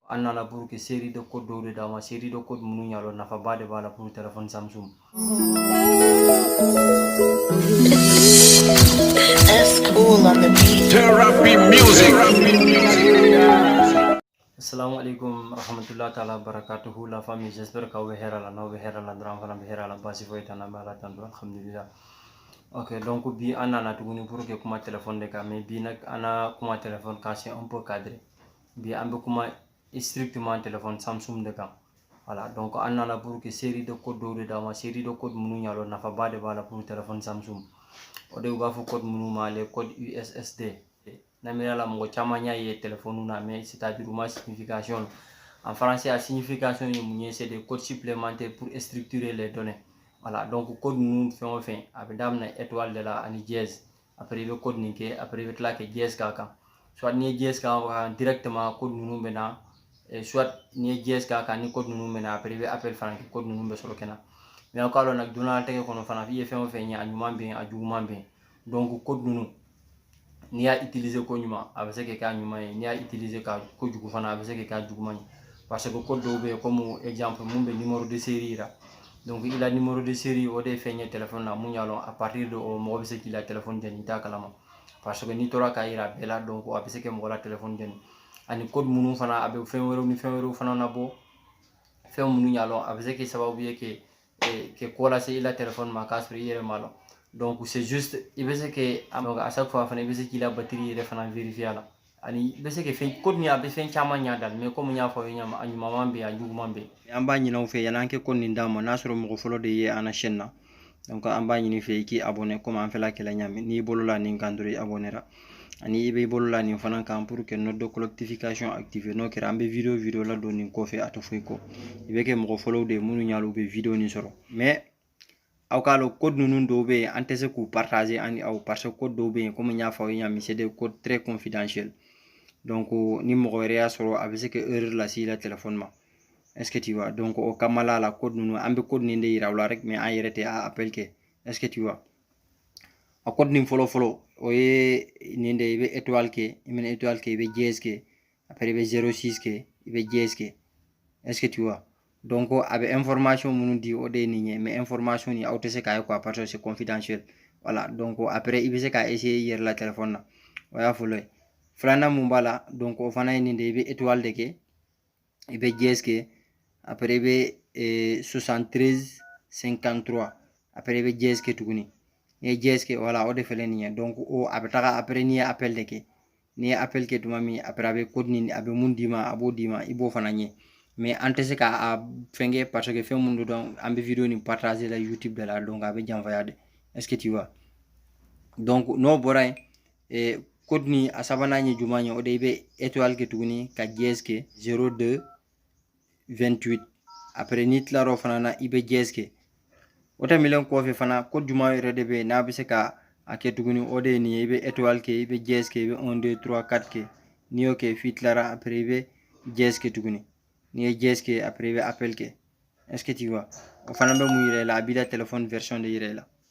an nana pour que série de code dɔw de d'a ma série de code minnu y'a dɔn nafaba de b'a la pour téléphone samsung Assalamu alaikum rahmatullahi ta'ala barakatuhu la famille j'espère k'aw bɛ hɛrɛ la n'aw bɛ hɛrɛ la dɔrɔn an fana bɛ hɛrɛ la basi foyi t'an na bɛ ala tanu alhamdulillah ok donc bi an nana tuguni pour que kuma téléphone de kan mais bi nag an na kuma téléphone kan c'est un peu cadré bi an bɛ kuma strictement téléphone samsung de kan voilà donc an nana pour que série de code dɔw de d'a ma série de code minnu y'a dɔn nafaba de b'a la pour téléphone samsung o de u b'a fɔ code minnu ma les code ussd n'a miir'a la mɔgɔ caman y'a ye téléphone na mais c'est à dire u ma signification en français a signification ye mun ye c'est des codes supplémentaires pour structurer les données voilà donc code ninnu fɛn o fɛn a bɛ daminɛ étoile de la ani dièse après i bɛ code nin kɛ après i bɛ tila kɛ dièse k'a kan soit n'i ye dièse k'a kan directement code ninnu bɛ na soit n'i ye dièse k'a kan ni code ninnu ma na après i bɛ appel fana kɛ code ninnu bɛ sɔrɔ ka na mais aw k'a dɔn na duniɲalatigɛ kɔnɔ fana i ye fɛn o fɛn ye a ɲuman bɛ yen a juguman bɛ yen donc code ninnu n'i y'a utiliser ko ɲuman a bɛ se k'i k'a ɲuman ye n'i y'a utiliser ka ko jugu fana a bɛ se k'i k'a juguman ye parce que code dɔw bɛ yen komi exemple mun bɛ numéro de série yira donc i la numéro de série o de ye fɛn ye téléphone na mun y'a lɔn à partir de o mɔgɔ bɛ se k'i la téléphone jɛni i t'a kalama parce que n'i tora k'a yira bɛɛ la donc a bɛ se kɛ mɔgɔ la téléphone jɛni ani code minnu fana a bɛ fɛn wɛrɛw ni fɛn wɛrɛw fana labɔ fɛn minnu y'a lɔn a bɛ se kɛ sababu ye ke ke ko lase i la téléphone ma k'a sɔrɔ i yɛrɛ m'a lɔn donc c'est juste i bɛ se ke donc à chaque fois fana i bɛ se k'i la batiri yɛrɛ fana vérifier a la ani i bɛ se ka fɛn code nin a bɛ fɛn caman ɲa dal mais komi n y'a fɔ aw ye ɲa ma a ɲuman bɛ yen a juguman bɛ yen an b'a ɲini aw fɛ yani an kɛ code nin d'a ma n'a sɔrɔ mɔgɔ fɔlɔ de ye an na chaîne na donc an b'a ɲini i fɛ i k'i abonné komi an fɛlɛ a kɛla ɲa min n'i bolo la nin kan dɔrɔn i abonnera ani i bɛ i bolo la nin fana kan pour que note de collectification active n'o kɛra an bɛ video video la don nin kɔfɛ a tɛ foyi kɔ i bɛ kɛ mɔgɔ fɔlɔw de ye minnu y'a lɔn u bɛ video nin sɔrɔ mais aw k'a lɔn code ninnu dɔw bɛ yen an tɛ se k'u partager an ni aw parce que code dɔw bɛ yen komi n y'a fɔ aw ye ɲa min c'est des codes très confidentiel donc ni mɔgɔ wɛrɛ y'a sɔrɔ a bɛ se ka erreur lase i la téléphone ma est ce que tu vois donc o kama la la code ninnu an bɛ code ninnu de yira aw la rek mais an yɛrɛ tɛ a appel kɛ est ce que tu vois a code nin fɔlɔ fɔlɔ o ye nin de i bɛ étoile kɛ i mana étoile kɛ i bɛ dièse kɛ après i bɛ zero six kɛ i bɛ dièse kɛ est ce que tu vois donc a bɛ information minnu di o de ye nin ye mais information nin aw tɛ se k'a ye quoi parce que c'est confidentiel voilà donc après i bɛ se k'a essayer i yɛrɛ la téléphone na o y'a fɔlɔ ye filanan mun b'a la donc o fana ye nin de ye i bɛ étoile de kɛ i bɛ dièse kɛ après i bɛ eh, 73 53 après i bɛ dièse kɛ tuguni n'i ye dièse kɛ voilà o de fɛlɛ nin ye donc o a bɛ taga après n'i ye appel de kɛ n'i ye appel kɛ tuma min après a bɛ code nin a bɛ mun d'i ma a b'o d'i ma i b'o fana ɲɛ mais an tɛ se ka a fɛn kɛ parce que fɛn minnu don an bɛ video nin partager la youtube de la donc a bɛ janfaya de est ce que tu vois donc n'o bɔra yen eh, code nin a sabanan ye juma ye o de i bɛ etoile kɛ tuguni ka dièse kɛ 02 28 après n'i tilar'o fana na i bɛ dièse kɛ o tɛmɛlen kɔfɛ fana code juma yɛrɛ de bɛ yen n'a bɛ se ka a kɛ tuguni o de ye nin ye i bɛ étoile kɛ i bɛ dièse kɛ i bɛ 1 2 3 4 kɛ n'i y'o kɛ f'i tilara après i bɛ dièse kɛ tuguni n'i ye dièse kɛ après i bɛ appel kɛ est ce que tu vois o fana bɛ mun yira i la a b'i la téléphone version de yira i la